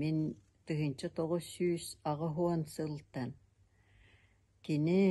Мин тыһыынча тоҕус сүүс аҕыс уон сылтан кини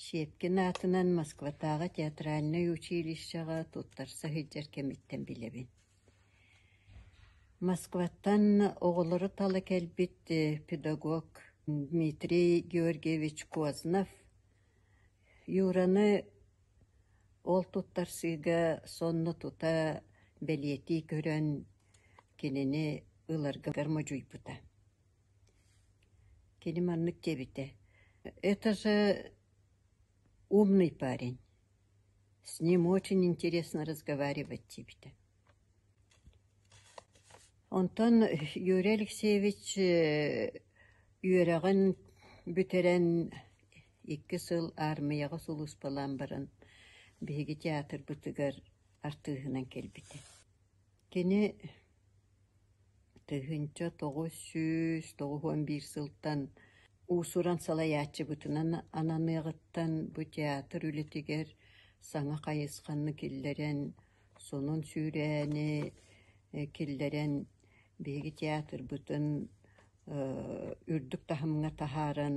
Щепкин аатынан Москватааҕы театральнай училищеҕа туттарса сылдьар кэмиттэн билэбин. Москваттан оҕолору тала кэлбит педагог Дмитрий Георгиевич Кознов Юраны Ол туттарсыыга сонно тута бэлиэтии көрөн, кинини ыларгар модьуйбута. Кини маннык диэбитэ: «Это же умный парень, с ним очень интересно разговаривать» диэбитэ Онтон Юрий Алексеевич үөрэҕин бүтэрэн икки сыл аармыйаҕа сулууспалаан баран биһиги театрбытыгар артыыһынан кэлбитэ. Кини тыһыынча тоҕус сүүс тоҕус уон биир сылтан уусуран салайааччыбытынан ананыаҕыттан бу театр үлэтигэр саҥа хайысханы киллэрэн Сонун сүүрээни киллэрэн биһиги театрбытын үрдүк таһымҥа таһааран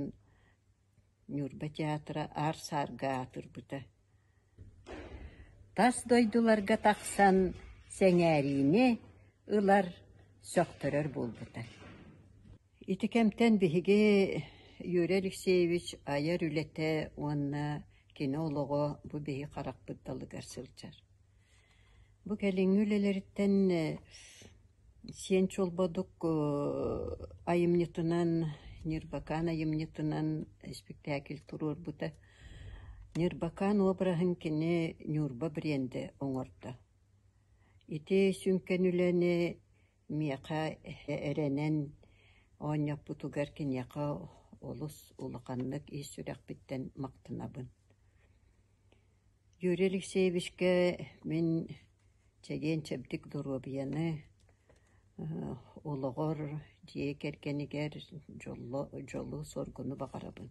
Ньурба театра аар-саарга аатырбыта. Тас дойдуларга тахсан сэҥээриини ылар, сөхтөрөр буолбута. Ити кэмтэн биһиги Юрий Алексеевич айар үлэтэ уонна кино олоҕо бу биһи харахпыт далыгар сылдьар. Бу кэлиҥҥи үлэлэриттэн сиэн чолбодук айымньытынан, Ньырбакаан айымньытынан испиктээкил туруорбута. Ньырбакаан обраһын кини Ньурба бренди оҥордо. Ити сүҥкэн үлэни Миэхэ эрэнэн оонньоппутугар киниэхэ олус улаханнык ис сүрэхпиттэн махтанабын. Юрий Алексеевичкэ мин чэгиэн-чэбдик доруобуйаны, олоҕор, дьиэ кэргэнигэр дьолло дьолу-соргуну баҕарабын.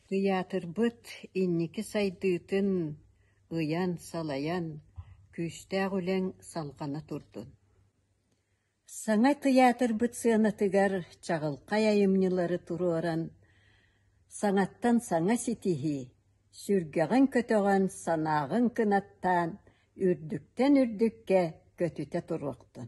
Тыйаатырбыт инники сайдыытын ыйан-салайан, күүстээх үлэҥ салҕана турдун! Саҥа тыйаатырбыт сыанатыгар чаҕылхай айымньылары туруоран, саҥаттан саҥа ситиһии, сүргэҕин-көтөҕөн, санааҕын кынаттаан, үрдүктэн үрдүккэ көтүтэ туруохтун